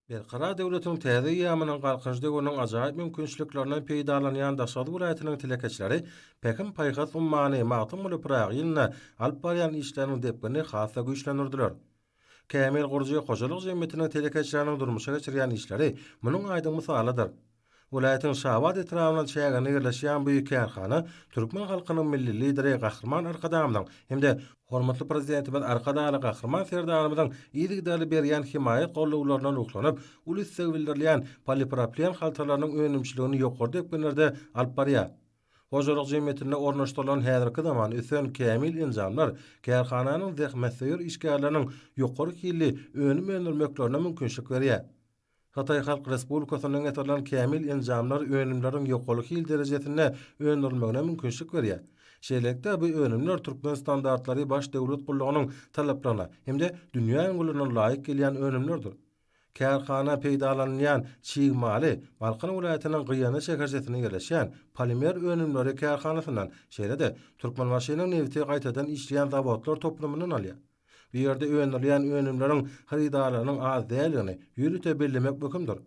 Berkarar döwletiň täze eýýamynyň Galkynyş döwrüniň ajaýyp mümkinçiliklerinden peýdalanýan Daşoguz welaýatynyň telekeçileri Pähim-paýhas ummany Magtymguly Pyragy ýylynda alyp barýan işleriniň depginini has-da güýçlendirdiler. Kämil gurujy hojalyk jemgyýetiniň telekeçileriniň durmuşa geçirýän işleri munuň aýdyň mysalydyr. Welaýatyň Şabat etrabyna çäginde ýerleşýän bu kärhana türkmen halkynyň Milli Lideri Gahryman Arkadagymyzyň hem-de hormatly Prezidentimiz Arkadagly Gahryman Serdarymyzyň yzygiderli berýän hemaýat-gollawlaryna ruhlanyp, uly isleg bildirilýän polipropilen haltalarynyň önümçiligini ýokary depginlerde alyp barýar. Hojalyk jemgyýetinde ornaşdyrylan häzirki zaman ösen kämil enjamlar kärhananyň zähmetsöýer işgärleriniň ýokary hilli önüm öndürmeklerine mümkinçilik berýär. Hytaý Halk Respublikasyndan getirilen kämil enjamlar önümleriň ýokary hil derejesinde öndürilmegine mümkinçilik berýär. Şeýlelikde, bu önümler türkmen standartlary baş döwlet gullugynyň talaplaryna hem-de dünýä ülňülerine laýyk gelýän önümlerdir. Kärhana peýdalanylýan çig maly Balkan welaýatynyň Gyýanly şäherçesinde ýerleşýän Polimer önümleri kärhanasyndan, şeýle-de Türkmenbaşynyň nebiti gaýtadan işleýän zawodlar toplumyndan alýar. Bu ýerde öndürilýän önümleriň hyrydarlarynyň az däldigini ýörite bellemek möhümdir.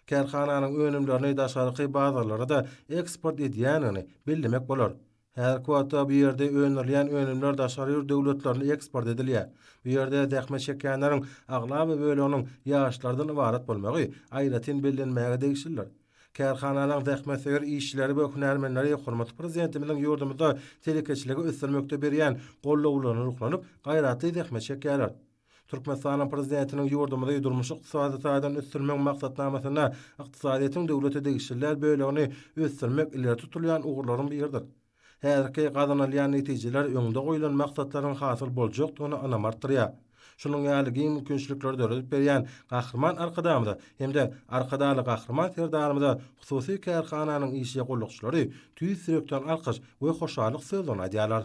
Kärhananyň önümlerini daşarky bazarlara-da eksport edýändigini bellemek bolar. Häzirki wagtda bu ýerde öndürilýän önümler daşary ýurt döwletlerine eksport edilýär. Bu ýerde zähmet çekýänleriň aglaba böleginiň ýaşlardan ybarat bolmagy aýratyn bellenmäge degişlidir. Kärhananyň zähmetsöýer işçileri we hünärmenleri hormatly Prezidentimiziň ýurdumyzda telekeçiligi ösdürmekde berýän gollawlaryna ruhlanyp, gaýratly zähmet çekýärler. Türkmenistanyň Prezidentiniň ýurdumyzy durmuş-ykdysady taýdan ösdürmegiň maksatnamasynda ykdysadyýetiň döwlete degişliler bölegini ösdürmek ileri tutulýan ugurlaryň biridir. Häzirki gazanylýan netijeler öňde goýlan maksatlaryň hasyl boljakdygyna ynam artdyrýar. Şunuň ýaly giň mümkinçilikleri döredip berýän Gahryman Arkadagymyza hem-de Arkadagly Gahryman Serdarymyza hususy kärhananyň işçi-gullukçylary tüýs ýürekden alkyş we hoşallyk sözlerini aýdýarlar.